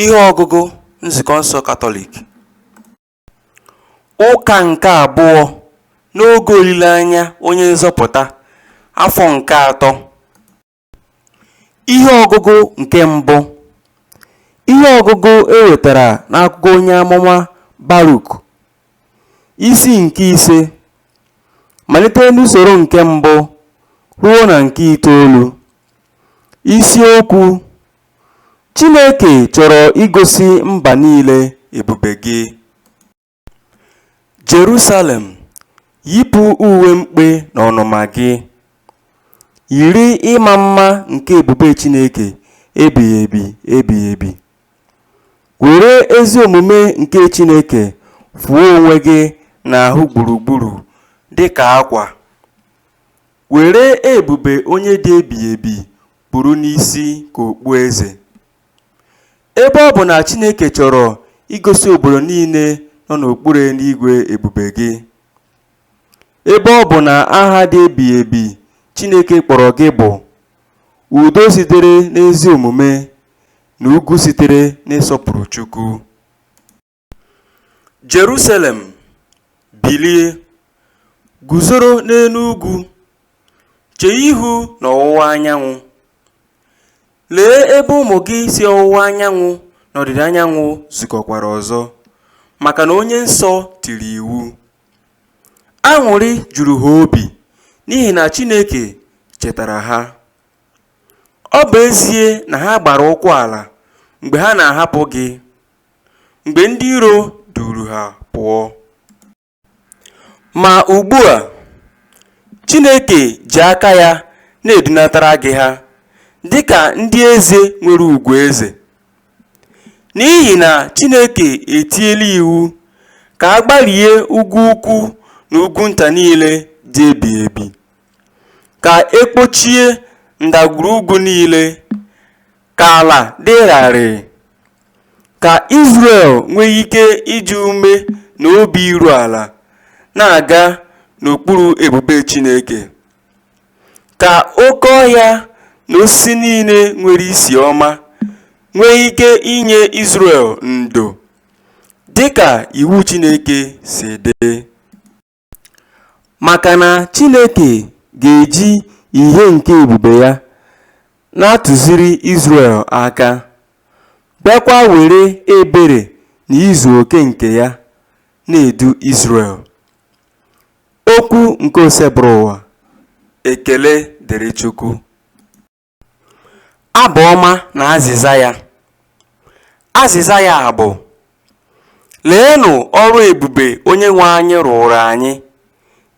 Ihe ọgụgụ Nzukọ nsọ Katọlik Ụka nke abụọ n'oge olileanya onye nzọpụta afọ nke atọ Ihe ọgụgụ nke mbụ Ihe ọgụgụ e wetara n'akwụkwọ onye amụma Baruk isi nke ise malite n'usoro nke mbụ ruo na nke itoolu isiokwu Chineke chọrọ igosi mba niile ebube gị. Jerusalem, yipụ uwe mkpe na ọnụma gị. Yiri ịma mma nke ebube Chineke ebighị ebi ebighị ebi. Were ezi omume nke Chineke fụọ onwe gị n'ahụ gburugburu dị ka akwa. Were ebube onye dị ebighị ebi kpuru n'isi ka okpueze. Ebe ọ bụ na Chineke chọrọ igosi obodo niile nọ n'okpuru eluigwe ebube gị, ebe ọ bụ na aha dị ebighị ebi Chineke kpọrọ gị bụ udo sitere n'ezi omume na ugwu sitere n'ịsọpụrụ Chukwu. Jerusalem, bilie, guzoro n'elu ugwu, chee ihu n'ọwụwa anyanwụ. Lee ebe ụmụ gị si ọwụwa anyanwụ na ọdịda anyanwụ zukọkwara ọzọ, maka na Onye Nsọ tiri iwu. Aṅụrị juru ha obi n'ihi na Chineke chetara ha. Ọ bụ ezie na ha gbara ụkwụ ala mgbe ha na-ahapụ gị, mgbe ndị iro duuru ha pụọ. Ma ugbu a, Chineke ji aka ya na-edunatara gị ha dị ka ndị eze nwere ugwu eze. N'ihi na Chineke etiela iwu ka a gbarie ugwu ukwu na ugwu nta niile dị ebighị ebi, ka e kpochie ndagwurugwu niile, ka ala dị rarịị, Ka Izrel nwee ike iji ume na obi iru ala na-aga n'okpuru ebube Chineke, ka oke ọhịa na osisi niile nwere isi ọma nwee ike inye Izrel ndo, dị ka iwu Chineke si dị. Maka na Chineke ga-eji ihe nke ebube ya na-atụziri Izrel aka, bịakwa were ebere na izu oke nke ya na-edu Izrel. Okwu nke Osebụrụwa. Ekele dịrị Chukwu. Abụ ọma na azịza ya. Azịza ya bụ, Leenụ ọrụ ebube Onyenwe anyị rụụrụ anyị,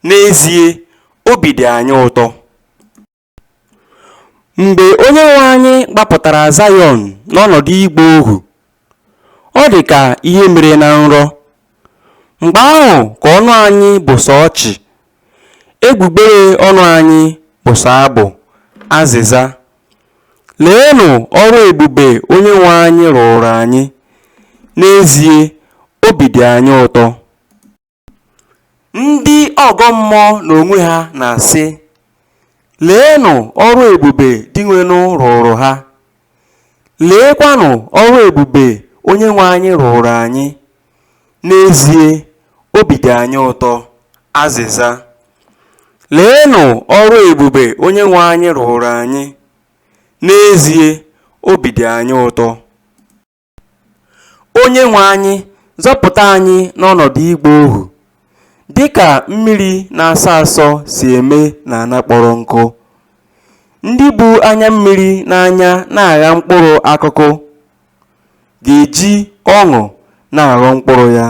n'ezie, obi dị anyị ụtọ. Mgbe Onyenwe anyị gbapụtara Zayọn n'ọnọdụ ịgba ohu Ọ dị ka ihe mere na nrọ. Mgbe ahụ ka ọnụ anyị bụ sọ ọchị, egbugbere ọnụ anyị bụ sọ abụ. Azịza. Leenụ ọrụ ebube Onyenwe anyị rụụrụ anyị, n'ezie, obi dị anyị ụtọ. Ndị ọgọ mmụọ n'onwe ha na-asị, Leenụ ọrụ ebube Dinwenụ rụụrụ ha! Leekwanụ ọrụ ebube Onyenwe anyị rụụrụ anyị! N'ezie, obi dị anyị ụtọ. Azịza, Leenụ ọrụ ebube Onyenwe anyị rụụrụ anyị! N'ezie, obi dị anyị ụtọ. Onyenwe anyị, zọpụta anyị n'ọnọdụ ịgba ohu, dị ka mmiri na-asọ asọ si eme n'ala kpọrọ nkụ. Ndị bu anya mmiri n'anya na-agha mkpụrụ akụkụ ga-eji ọṅụ na-aghọ mkpụrụ ya.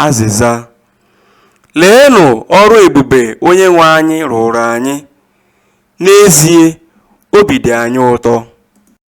Azịza. Leenụ ọrụ ebube Onyenwe anyị rụụrụ anyị! N'ezie, obi dị anyị ụtọ.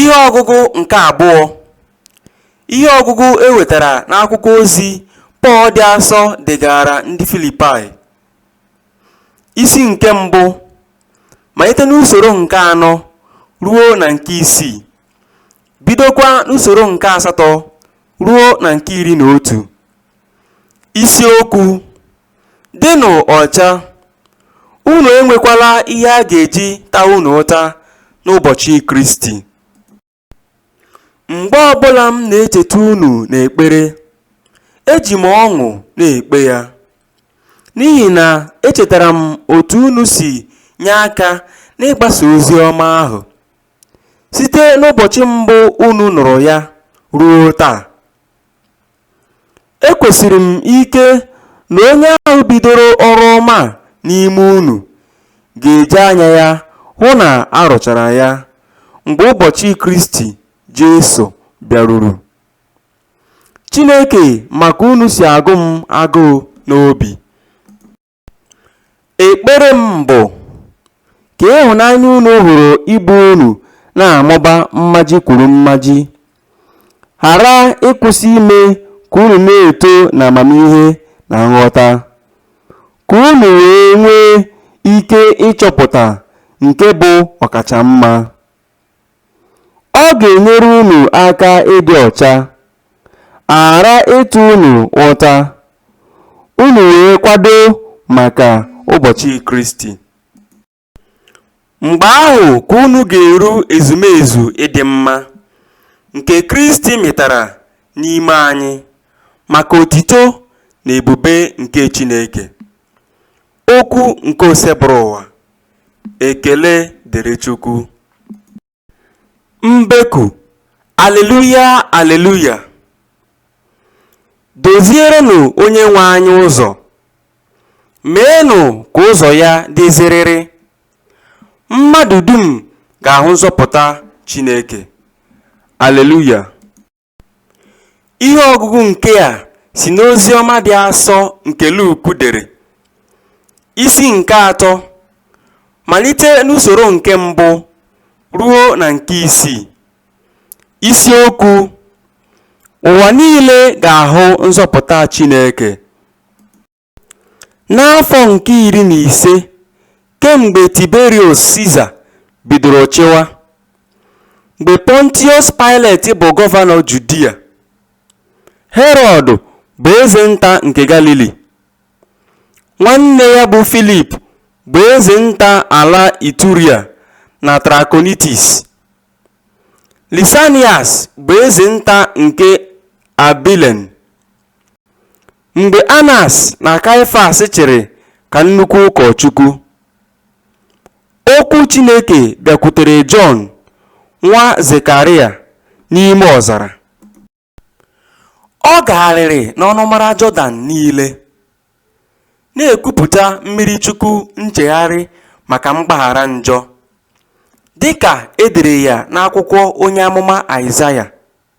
Ihe ọgụgụ nke abụọ Ihe ọgụgụ e wetara n'akwụkwọ ozi Pọl dị asọ degaara ndị Filipaị isi nke mbụ malite n'usoro nke anọ ruo na nke isii bidokwa n'usoro nke asatọ ruo na nke iri na otu isiokwu Dịnụ ọcha, unu enwekwala ihe a ga-eji ta unu ụta n'ụbọchị Kristi. Mgbe ọ bụla m na-echeta unu n'ekpere, eji m ọṅụ na-ekpe ya, n'ihi na echetara m otu unu si nye aka n'ịgbasa ozi ọma ahụ, site n'ụbọchị mbụ unu nụrụ ya ruo taa. Ekwesiri m ike na onye ahụ bidoro ọrụ ọma a n'ime unu ga-eji anya ya hụ na a rụchara ya mgbe ụbọchị Kristi Jesu bịaruru. Chineke ma ka unu si agụ m agụụ n'obi. Ekpere m bụ ka ịhụnanya unu hụrụ ibe unu na-amụba mmaji kwuru mmaji, ghara ịkwụsị ime ka unu na-eto n'amamihe na nghọta, ka unu wee nwee ike ịchọpụta nke bụ ọkacha mma. Ọ ga-enyere unu aka ịdị ọcha, a ghara ịta unu ụta, unu wee kwado maka ụbọchị Kristi. Mgbe ahụ ka unu ga-eru ezumezu ịdị mma nke Kristi mịtara n'ime anyị maka otito na ebube nke Chineke. Okwu nke Osebụrụwa Ekele dịrị Chukwu. Mbeku, Aleluya, aleluya! Dozierenụ Onyenwe anyị ụzọ, meenụ ka ụzọ ya dị zịrịrị. Mmadụ dum ga-ahụ nzọpụta Chineke. Aleluya! Ihe ọgụgụ nke a si n'Oziọma dị asọ nke Luk dere, isi nke atọ, malite n'usoro nke mbụ ruo na nke isii. Isiokwu Ụwa niile ga-ahụ nzọpụta Chineke. N'afọ nke iri na ise kemgbe Tiberiọs Siza bidoro chịwa, mgbe Pọntiọs Paịlet bụ gọvanọ Judia, Herọd bụ eze nta nke Galili, nwanne ya bụ Filip bụ eze nta ala Ituria na Trakonitis, Lisanias bụ eze nta nke Abilen, Mgbe Anas na Kaịfas chịrị ka nnukwu ụkọchukwu, okwu Chineke bịakwutere Jọn nwa Zekarịa n'ime ọzara. Ọ gagharịrị n'ọnụmara Jọdan niile, na-ekwupụta mmiri chukwu nchegharị maka mgbaghara njọ, dị ka e dere ya n'akwụkwọ onye amụma Aịzaya.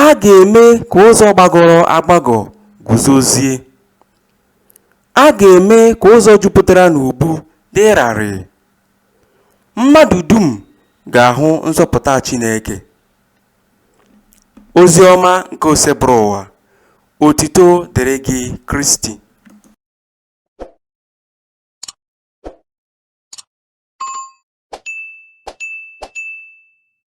A ga-eme ka ụzọ gbagọrọ agbagọ guzozie, a ga-eme ka ụzọ jupụtara n'ubu dị larịị. Mmadụ dum ga-ahụ nzọpụta Chineke. Oziọma nke Osebụrụwa, otito dịrị gị Kristi.